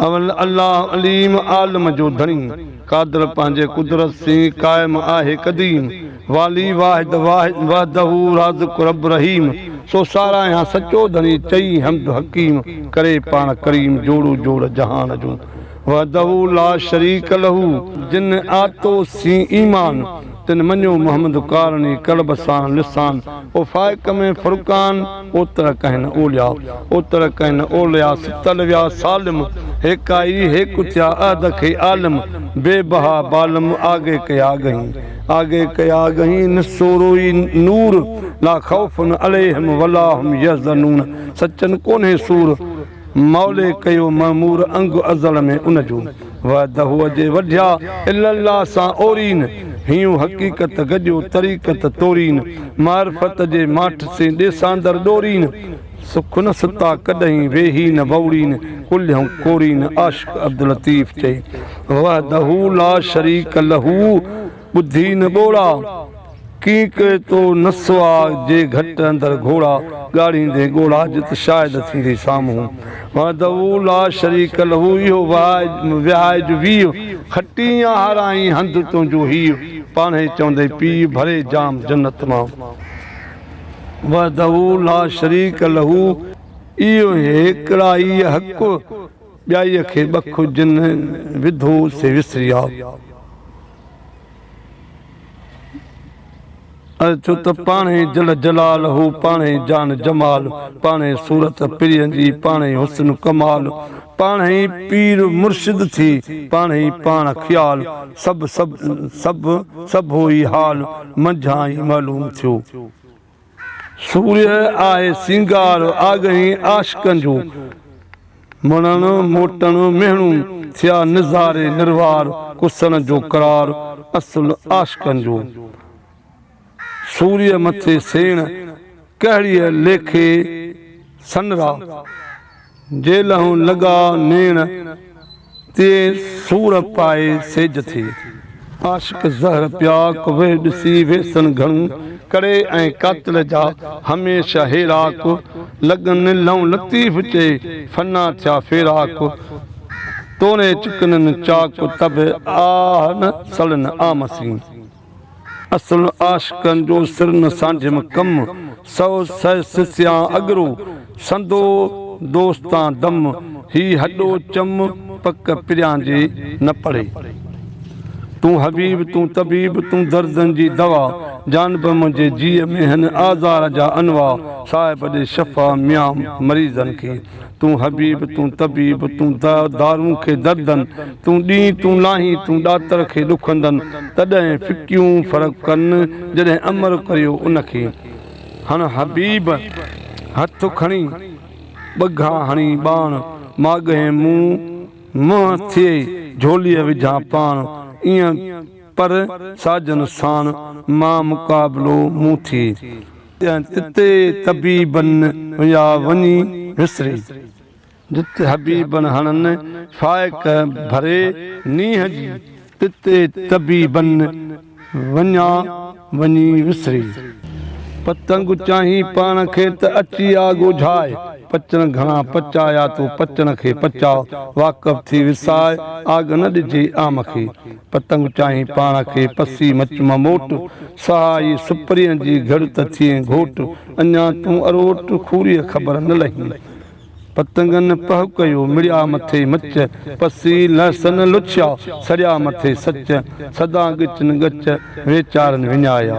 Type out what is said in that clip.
الله عليم عالم جو ڌڻي، قادر پنهنجي قدرت سين قائم آهي قديم، والي واحد واحد وحده رازق رب رحيم، سو ساراهيان سچو ڌڻي چئي حمد حڪيم، ڪري پاڻ ڪريم جوڙو جوڙ جهان جون، وحده لا شريڪ له جن آتو سين ايمان تن مڃيو محمد ڪارڻي قلب سان لسان او فائق ۾ فرقان او تر ڪهن اولياء او تر ڪهن اولياء ستل ويا سالم هيڪائي هيڪ ٿيا عهد کي عالم بي بها بالم آگهي ڪيا آگهين آگهي ڪيا آگهين نسوروئي نور لا خوف عليهم ولا هم يحزنون سچن ڪونهي سور مولي ڪيو معمور انگ ازل ۾ ان جو وعده هو جي وڍيا الا الله سان اورين هيون حقيقت گڏيو طريقت تورين معرفت جي ماٺ سين ڏيساندر ڏورين سک نه ستا ڪڏهين ويهي نه وئوڙين ڪلهيون ڪورين عاشق عبداللطيف چئي وحده لا شريڪ له ٻڌي نه ٻوڙا، ڪينء ڪئي تو نسوا جي گهٽ اندر گهوڙا، ڳاڙهيندين ڳوڙها جت شاهد ٿيندي سامهون، وحده لا شريڪ له اهو وهائي جو ويء، کٽين يا هارائين هنڌ تنهنجو هيء، پاڻهي چوندين پيء ڀري جام جنت مان، وحده لا شريڪ له اهو هيڪڙائي حق. ٻيائيء کي ٻک جنھن وڌو سي وسري آ. ۽ ڇو ته پاڻهي جل جلال هو پاڻهي جان جمال پاڻهي صورت پرين جي پاڻهي حسن ڪمال پاڻهي پير مرشد ٿي پاڻهي پاڻ خيال سڀ سڀ سڀ سڀ هو ئي حال منجهان ئي معلوم ٿيو. سورهيه آهي سينگار آگهين عاشقن جون، مڙڻ موٽڻ مهڻون ٿيا نظاري نروار ڪسڻ جو قرار اصل عاشقن جون، سورهيه مٿي سيڻ ڪهڙيء ليکي سنرا. جي لهون لڳا نيڻ، تيئي سور پائي سيج ٿي. عاشق زهر پيا ڪوهي ڏسي ويسن گهڻو ڪڙي ۽ قاتل جا هميشه هيراڪ لڳن لهون لطيف چئي فنا ٿيا فيراڪ توري چڪنن چاڪ تب آهن سڙن عام سين. اصل عاشقن جو سر نه سانڍيم ڪم، سو سهي سسيان اڳرو، سندو دوستان دم، هي هڏو چم، پڪ پريان جي نه پڙهي. تون حبيب، تون طبيب، تون دردن جي دوا، جانب منهنجي جيء ۾ هن آزار جا انواع، صاحب ڏي شفا ميان مريضن کي. تون حبيب، تون طبيب، تون دوا دارون کي دردن، تون ڏينهن، تون لاهين، تون ڏاتر کي ڏکندن، تڏهن ڦڪيون فرق ڪن، جڏهن امر ڪريو ان کي. هڻ حبيب، هٿ کڻي، ٻگها هڻي ٻاڻ، ماڳهين مون منهن ٿئي، جهوليء وجهان پاڻ، ايئن پر ساجن ساڻ، مان مقابلو مون ٿئي. جتي طبيبن هيا وڃي وسري. جتي حبيبن هڻن فائق ڀري نينهن جي. تتي طبيبن وڃا وڃي وسري. پتنگ چاهين پاڻ کي ته اچي آ ڳوجهاء. پچڻ گهڻا پچايا تو پچڻ کي پچاء. واقف ٿي وساء آڳ نه ڏجي عام کي. پتنگ چاهين پاڻ کي پسي مچ مان موٽ، سهائي سپرين جي گهڙ ته ٿئين گهوٽ، اڃا تون اروٽ کوريء خبر نه لهي. پتنگن پهه ڪيو مڙيا مٿي مچ، پسي لهسن لڇيا سڙيا مٿي سچ، سدا ڳچن ڳچ ويچارن وڃايا.